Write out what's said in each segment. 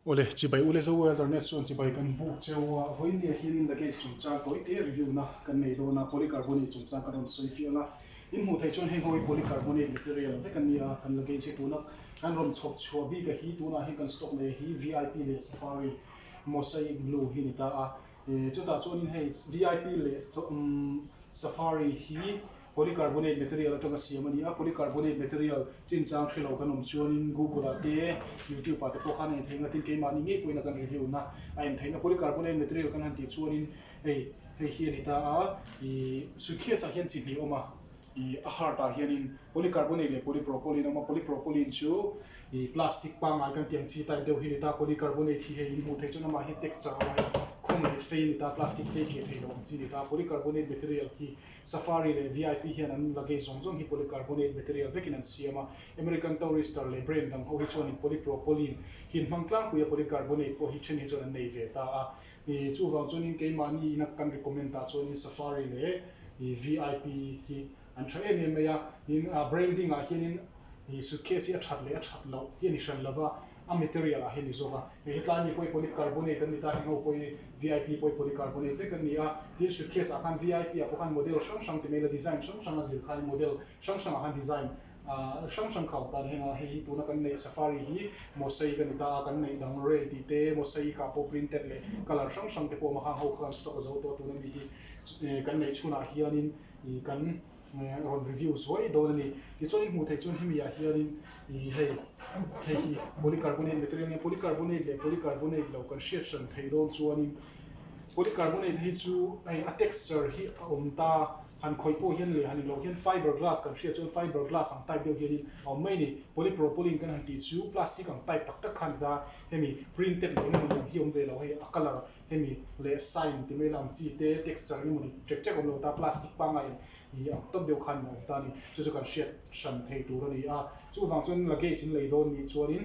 Awle, chibai ule zo e, Alternate chuan chibai kan buk cheu a, vawinia hianin la case chungchang tawi te review na kan nei dawn a, polycarbonate chungchang ka rawn sawi fiah la, in hmuh theih chuan hei ho hi polycarbonate material vek a ni a, kan la case hi tuna kan rawn chhawp chhuah bik a hi, tunah hian kan stock neia hi VIP leh Safari mosaic blue hi a ni ta a, E, chutah chuanin hei VIP leh Safari hi polycarbonate material atanga siam a ni a, polycarbonate material chinchang hre lo kan awm chuanin Google-ah te YouTube-ah te pawh khan a en theihna tin keimahni ngei pawhin a kan review na a en theihna polycarbonate material kan han tih chuanin hei hei hi a ni ta a, ih suitcase-ah hian chi hnih a awm a. I a heart ah hianin polycarbonate leh polypropylene a awm a, polypropylene chu i plastic pangngai kan tih ang chi type deuh hi a ni ta, polycarbonate hi hei in hmuh theih chuan amah hian texture a awm a, khum leh fei a ni ta, plastic fei kiah theih loh ang chi a ni ta, polycarbonate material hi Safari leh VIP hian an luggage zawng zawng hi polycarbonate material vekin an siam a, American Tourister leh brand dang ho hi chuanin polypropylene hi an hmang tlangpui a, polycarbonate pawh hi then hi chuan an nei ve ta a, i chuvang chuanin keimahni ina kan recommend ah chuanin Safari leh. hi VIP hi an tha em em mai a, tin a branding ah hianin hi suitcase hi a that leh a that loh hi a ni hran lova, a material ah hi a ni zawk a, hei hetlai mi pawh hi polycarbonate an ni ta, hengho pawh hi VIP pawh hi polycarbonate vek an ni a, tin suitcase ah khan VIP ah pawh khan model hrang hrang ti mai ila design hrang hrang a zir khan in model hrang hrang ah khan design A hrang hrang khau tan hengah hei hi tuna kan neih safari hi mosaic a ni ta, kan neih dang rei tih te, mosaic ah pawh printed leh colour hrang hrang te pawh a maha ho khan stock a zo tawh tuna ni hi kan neih chhunah hianin ih kan rawn review zuai dawn a ni. Tichuanin hmuh theih chuan hemi ah hianin ih hei hei hi polycarbonate material nia, polycarbonate leh polycarbonate lo kan hriat hran theih dawn chuanin polycarbonate hi chu hei a texture hi a awm ta, Han khawi pawh hian leh han inloh hian fibre glass kan hria chuan fibre glass ang type deuh hianin a awm mai a ni. Polypropylene kan han tih chu plastic ang type tak tak kha a ni ta, hemi printed leh engemaw ni ang hi awm ve lo hei a colour hemi leh sign ti mai lam chi te texture eng emaw ni ṭek ṭek a awm lo ta, plastic pangngai ang ni ang tawp deuh khan a awm ta a ni. Chu chu kan hriat hran thei tur a ni a. Chuvang chuan luggage in lei dawn nih chuanin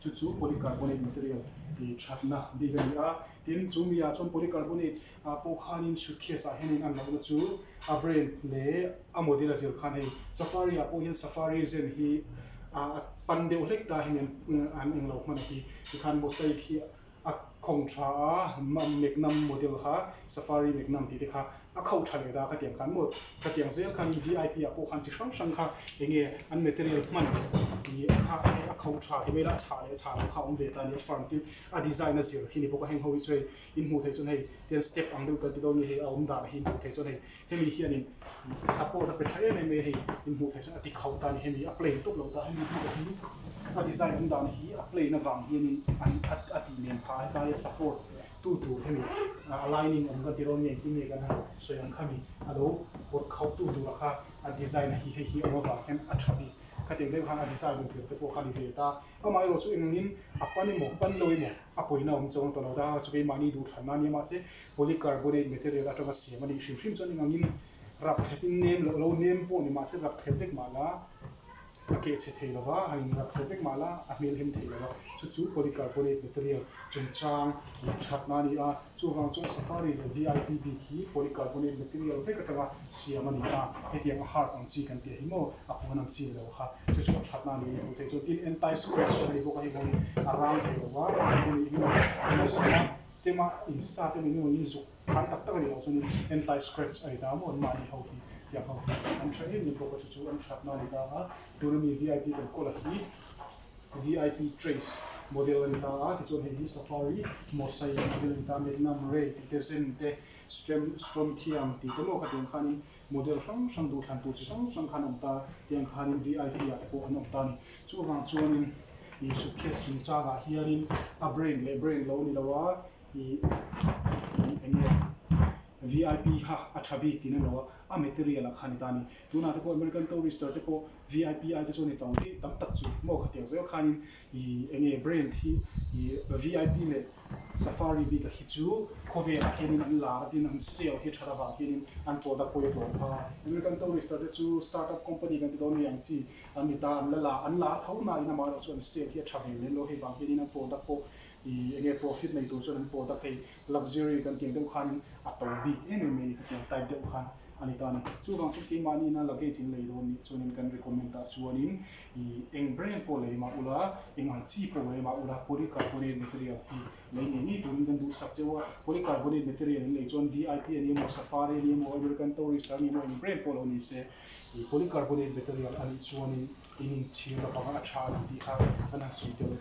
Chu chu polycarbonate material tih thatna bik a ni a, tin, chu miah chuan polycarbonate ah pawh khanin suitcase ah hian in an lohna chu a brand leh a model a zir khan hei Safari ah pawh hian Safari zen hi a pan deuh hlek ta hian an englo hman a ti tikhan mosaic hi a khawng tha a meknam model kha safari meknam tih te kha a kho tha leh ta ka tiang khan maw ka tiang zel khan vip ah pawh khan chi hrang hrang kha eng nge an material hman ih a kha a a kho tha ti mai la a chhah leh a chhah loh kha a awm ve ta ni a firm tin a design a zir hi ni bawk a heng ho hi chu hei in hmuh theih chuan hei tian step ang deuh kan ti dawn nge hei a awm dan hi hmuh theih chuan hei Hemi hianin support a pe tha em em mai a hei in hmuh theih chuan a ti kho ta a ni hemi a plain tawp lo ta hemi hnu te hi a design an dahna hi a plain avang hianin a tih nem pha hetia support tu tur hemi a lining awm kan tirawn nge engtin nge kan han sawi ang kha mi a lo pawt kho tu tura kha a design a hi hei hi awm avang hian a tha bik kha te deuh han a design a zir te pawh kha a ni ve ta. Amah erawh chu eng angin a pan emaw pan lo emaw a pawina awm chuang a tawh lo ta a, chu keimahni duh thlanna ania mahse polycarbonate material atanga siam a nih hrim hrim chuan eng angin rap thletin nem loh lo nem pawh ni mahse rap thlep vek mah la a keh chhe thei lova han in rap thlep vek mah la a hmelhem thei lo a chu chu polycarbonate material chungchang ih thatna a ni a. Chuvang chuan Safari leh VIP bik hi polycarbonate material vek atanga siam a ni a, hetiang a hard ang chi kan tih a hi maw? A puan ang chin lo kha. Chu chu a thatna a nih hmuh theih chuan tin anti scratch a ni bawk a, heng hoin a rang thei lo va, a hmu nih hmun a ngaih zawng a, chema in sat a ni nuai in zuk khai tak tak a nih loh chuan in anti scratch a ni ta maw? Mahni ho hi tiang ho hi an tha em em bawk a, chu chu an thatna a ni ta a, tun a mi VIP kan call a hi. VIP Trace model a ni ta a, tichuan hei hi Safari, Mosaic model a ni ta a, Magnum, Ray tih te, Zen te, Strem, Strontium tih te lawka tiang khanin model hrang hrang duhthlan tur chi hrang hrang khan a awm ta a, tiang khanin VIP ah te pawh an awm ta a ni. Chuvang chuanin ih suitcase chungchangah hianin a brand leh brand lo ni lo a, ih ih eng nge VIP kha a tha bik tiin a ni lo a, a material ah kha a ni ta a ni. Tunah te pawh American Tourister te pawh. VIP aite chuan hetawng hi tam tak chu mawkhat deuh zel khanin i eng nge brand hi i VIP leh Safari bik a hi chu khawvelah hianin an la a tin an sale hi that avang hianin an product pawh i tlawm kha. American Tourister te chu startup company kan ti dawn mai ang chi an ni ta, an la la an la tho nain amaherawh chu an sale hi a tha ve lem lo hei vang hianin an product pawh i eng nge profit nei tur chuan an product hei Luxury kan tih deuh khanin a to bik em em a ni ka tih ang, type deuh khan a ni ta a ni. Chuvang chu keimahnihna luggage in lei dawn nih chuanin kan recommend ah chuanin i eng brand pawh lei mah ula, eng ang chi pawh lei mah ula polycarbonate material hi lei ngei ngei turin kan duhsak che a. Polycarbonate material in lei chuan VIP a ni emaw, Safari a ni emaw, American Tourister a ni emaw eng brand pawh lo ni se i polycarbonate material a nih chuanin Tin in chhir na panga a tha a ni tih kha an han sawi tel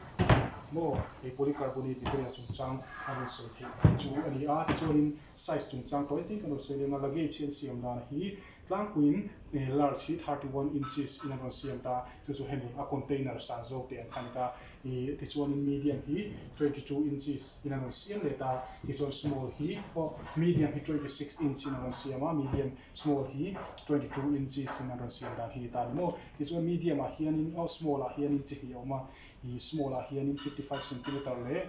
maw? Hei polycarbonate te ria chungchang an rawn sawi theih hi chu a ni a, tichuanin size chungchang tawh engtin kan rawn sawi leng a, luggage hi an siam dan hi tlangpuiin large hi thirty one inches in an rawn siam ta, chu chu hemi a container san zawk te an khan ta, ih tichuanin medium hi twenty two inches in an rawn siam leh ta, tichuan small hi aw medium hi twenty six inch in an rawn siam a, medium Small hi twenty two inches in an rawn siam dan hi ta a ni maw? Tichuan medium ah hianin aw small ah hianin chi hnih a awm a, ih small ah hianin fifty five centimetre leh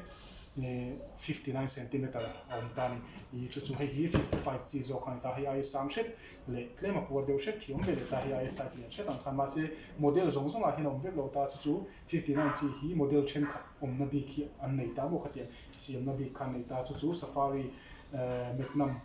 ih fifty nine centimetre a awm ta a ni. Ih chu chu hei hi fifty five chi zawk a ni ta, hei aia sang hret leh tlem a puar deuh hret hi a awm ve leh ta, hei aia size lian hret ang khan mahse model zawng zawng ah hian a awm vek lo ta, chu chu fifty nine chi hi model thenkhat awmna bik hi an nei ta maw khatiang siamna bik kha an nei ta, chu chu safari eh Magnum.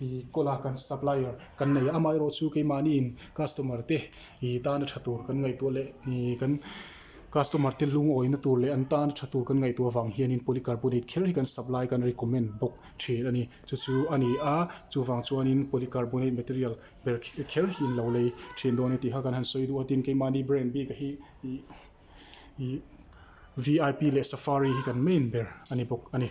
I kawla kan supplier kan nei a, amaherawh chu keimahniin customer te i tana tha tur kan ngaihtuah leh i kan customer te lungawina tur leh an tana tha tur kan ngaihtuah vang hianin polycarbonate kher hi kan supply kan recommend bawk thin a ni. Chu chu a ni a, chuvang chuanin polycarbonate material ber kher hi in lo lei thin dawn a ni tih kha kan han sawi duh a, tin keimahni brand bik a hi i VIP leh Safari hi kan main ber a ni bawk a ni.